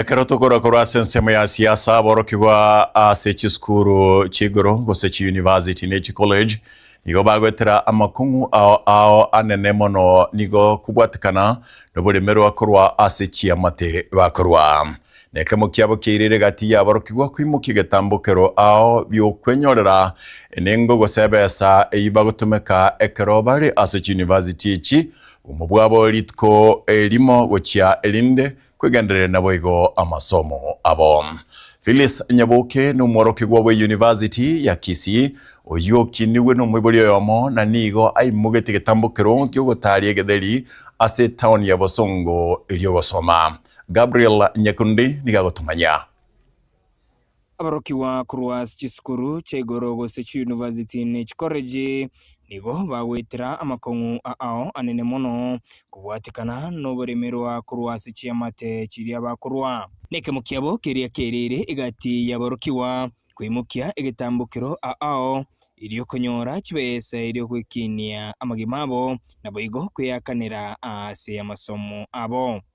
Ekero tokorwa korwa ase ensemo ya siasa, aborokigwa ase chisukuru chi'igoro gose chiyunivasiti ne chikolej nigo bagoetera amakong'u ao ao anene mono nigo kobwatekana noboremerwa korwa ase chiamate bakorwa. Nekemo kiabo kiairire gati y'aborokigwa koimokia egetambo kero ao bi'okwenyorera enengo gose ebesa eyio bagotomeka ekero bare ase chiyunivasiti echi, obomo bwabo rituko erimo gochia erinde, Kwegendereria naboigo amasomo abo. Phyllis Nyaboke nomworokigwa bwe University ya Kisii, oyio okinigwe nomoibori oyomo na nigo aimogetie getambo kero gi'ogotaria egetheri ase town ya Bosongo ri'ogosoma. Gabriel Nyakundi nigo agotomanyia. Aborokigwa korwa ase chisukuru chia igoro gose chiyunivasiti ne chikoreji nigo bagoetera amakong'u ao anene mono kobwatikana noboremerwa korwa ase chiamate chiria bakorwa. Nekemo kiabo keria kerire egati y'aborokigwa koimokia egetambokero ao erio konyora chibesa erio goekinia amagima abo naboigo kweakanera ase amasomo abo.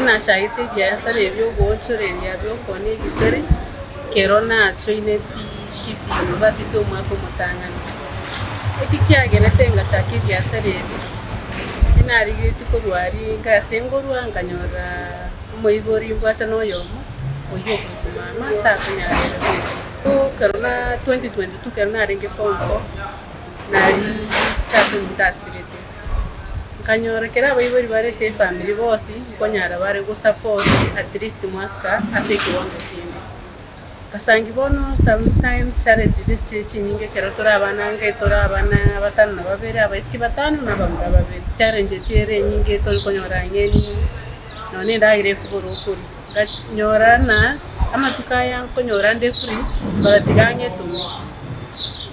Inachagete ebiasara ebi'ogoochoreria bi'okoona egetare, ekero nachoineti Kisii University omwaka omotang'ani. Eki kiagerete ngachaka ebiasara ebi, inarigeretie korwa aria inga ase ngorwa nkanyorora omoibori mbwate na oyomo, oyio okoitwa mama takonyara ere gocha. Bono ekero na twenty twenty two ekero narenge form four, naria tata omonto asirete. nkanyora kera abaibori bare ase efamiri bonsi nkonyara bare go support at least mwasika ase ekewango kende. Nkasanki bono sometimes challenges echiche chinyinge ekero tore abana inga etore abana batano na babere, abaisiki batano na abamura babere, challenges ere enyinge tori konyora ng'eni nonya na endagera ekobora okoria. Nkanyora buna amatuko aya nkonyora nde free, mbatiga ang'e etumia.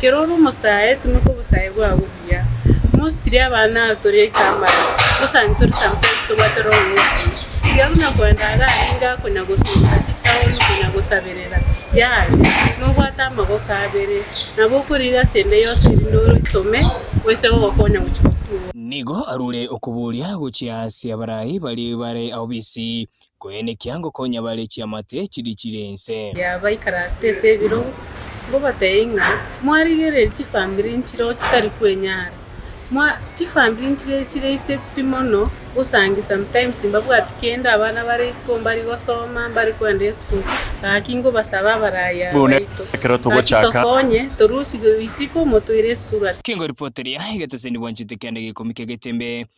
Kera ore omosae, tumeka obosae bwao buya. Mostiri abana ao tore ekiambaras, osange tore sometimes tobwate roho y'Okristo. Tiga buna kwenda iga arenge akonya gosubwa ati taoni konya gosaberera, yaya, nobwate amagoko abere, nabo okoriire ase ende yonsi erinde oitome oise gogokonya gochia gokigwa. Nigo arure okoboria gochia ase abarai baria bare ao b'isi. Koenekia ngokonya bare chiamate chiria chire inse. Yaba ikaraste ase ebirogo, ngobatebie ng'a mwarigererie chifamiri nchireo chitari kwenyara. Mwa, chifamiri nchire chire ise pi mono, gosangi sometimes mbabwati kende abana bare isiko mbari gosoma, mbari kwenda esukuru, gaki ngobasaba abarai aba baito, gaki tokonye, torusie isiko motoire esukuru at. Kingoripoteria egeteseni bwanchete kende gekumika egetembe,